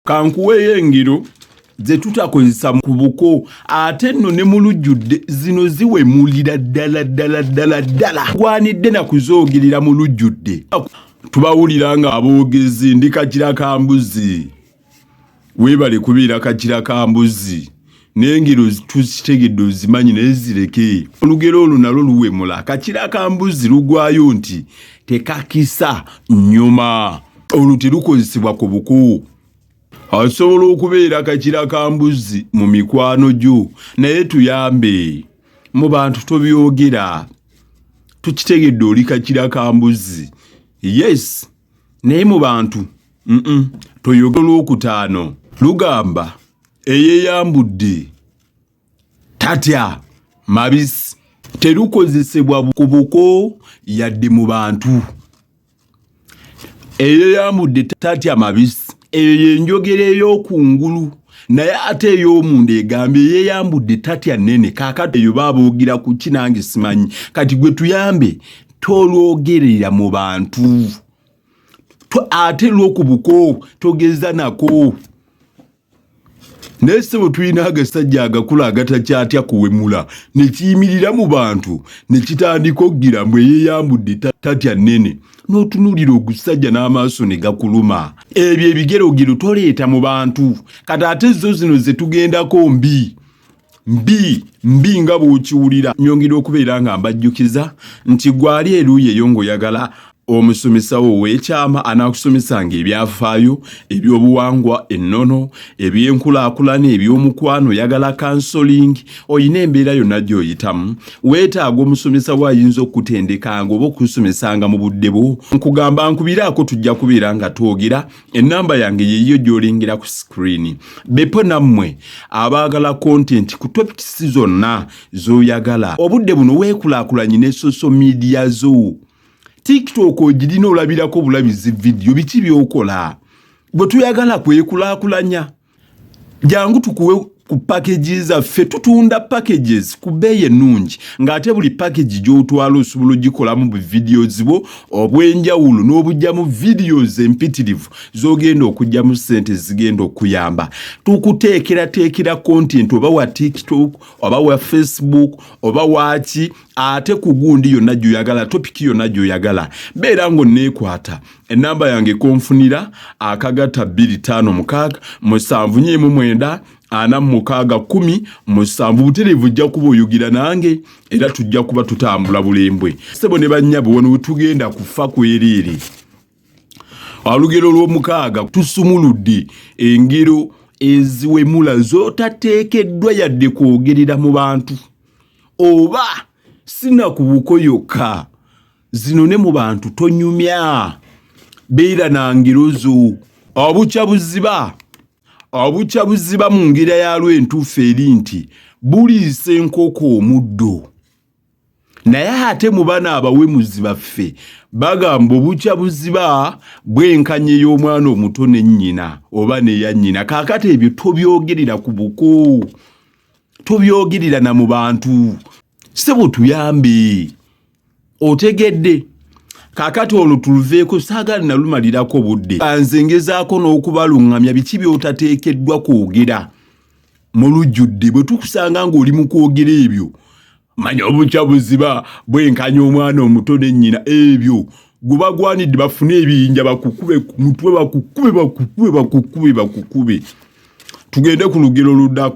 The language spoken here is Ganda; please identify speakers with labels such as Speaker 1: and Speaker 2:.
Speaker 1: kankuweeyo engero ze tutakozesa ku buko ate nno ne mu lujjudde zino ziwemulira ddala ddala ddala ddala gwanidde na kuzoogerera mu lujjudde tubawulira nga aboogezi ndi kakira ka mbuzi weebale kubeera kakira ka mbuzi naye ngero tuzitegedde ozimanyi naye zireke olugero olwo nalwo luwemula kakira akambuzi lugwayo nti tekakisa nyuma olwo terukozesebwa ku buku asobola okubeera kakira kambuzi mu mikwano gyo naye tuyambe mu bantu tobyogera tukitegedde oli kakira kambuzi yes naye mu bantu toyoga olwokutaano lugamba eyeyambudde tatya mabisi terukozesebwa ku buko yadde mu bantu eyeyambudde tatya mabisi eyo yenjogera eyokungulu naye ate eyomunda egamba eyeyambudde tatya nene kakati eyo babuugira ku ki nange simanyi kati gwe tuyambe tolwogerera mu bantu ate lwokubuko togeza nako naye sebo tulina agasajja agakula agatakyatya kuwemula nekiyimirira mu bantu nekitandika okugira mbu eyeyambudde tatya nene notunulira ogusajja n'amaaso ne gakuluma ebyo ebigerogero toleeta mu bantu kati ate zo zino zetugendako mbi mbi mbi nga bw'okiwulira nyongera okubeera nga mbajjukiza nti gwali eruuyi eyo ng'oyagala omusomesawo ow'ekyama anaakusomesanga ebyafaayo eby'obuwangwa ennono eby'enkulaakulana eby'omukwano oyagala kansolingi olina embeera yonna gy'oyitamu weetaaga omusomesawo ayinza okukutendekanga oba okusomesanga mu budde bwo nkugamba nkubiraako tujja kubeera nga twogera enamba yange yeyiyo gyolengera ku screen bepo nammwe abaagala content ku topics zonna zoyagala obudde buno weekulakulanye ne social media zo tiktok ogirina olabirako bulabizi vidiyo biki byokola bwe tuyagala kwekulakulanya jangu tukuwe ku package zaffe tutunda packages ku bbeeyi ennungi ng'ate buli package gy'otwala osobola ogikolamu bu videos bwo obw'enjawulo n'obujjamu videos empitirivu z'ogenda okujjamu ssente zigenda okuyamba tukuteekerateekera content oba wa tiktok oba wa facebook oba waaki ate ku gundi yonna gy'oyagala topiki yonna gy'oyagala beera ng'onneekwata enamba yange konfunira akagata bbiri ttaano mukaaga musanvu nyiimu mwenda ana mukaaga kumi musanvu butereevu ojja kuba oyogera nange era tujja kuba tutambula bulembwe sebo ne bannyabo wano wetugenda kufa kwereere olugero lw'omukaaga tusumuludde engero eziwemula zotateekeddwa yadde kwogerera mu bantu oba sinakubuko yokka zino ne mu bantu tonyumya beera na ngero zo obukya buziba obukya buziba mu ngera yalwo entuufu eri nti buliisa enkoko omuddo naye ate mu bana abawemuzi baffe bagamba obukya buziba bwenkanye y'omwana omuto ne nnyina oba neya nnyina kaakati ebyo tobyogerera ku buko tobyogerera na mu bantu sebo tuyambe otegedde kakati olwo tuluveeko saagala nalumalirako budde nze ngezaako n'okubaluŋŋamya biki by'otateekeddwa kwogera mu lujjudde bwe tukusanga ng'oli mu kwogera ebyo manya obukya buziba bwenkanya omwana omuto ne nnyina ebyo gwe bagwanidde bafune ebiyinja bakukube mutwe bakukube bakukube bakukube bakukube tugende ku lugero ludako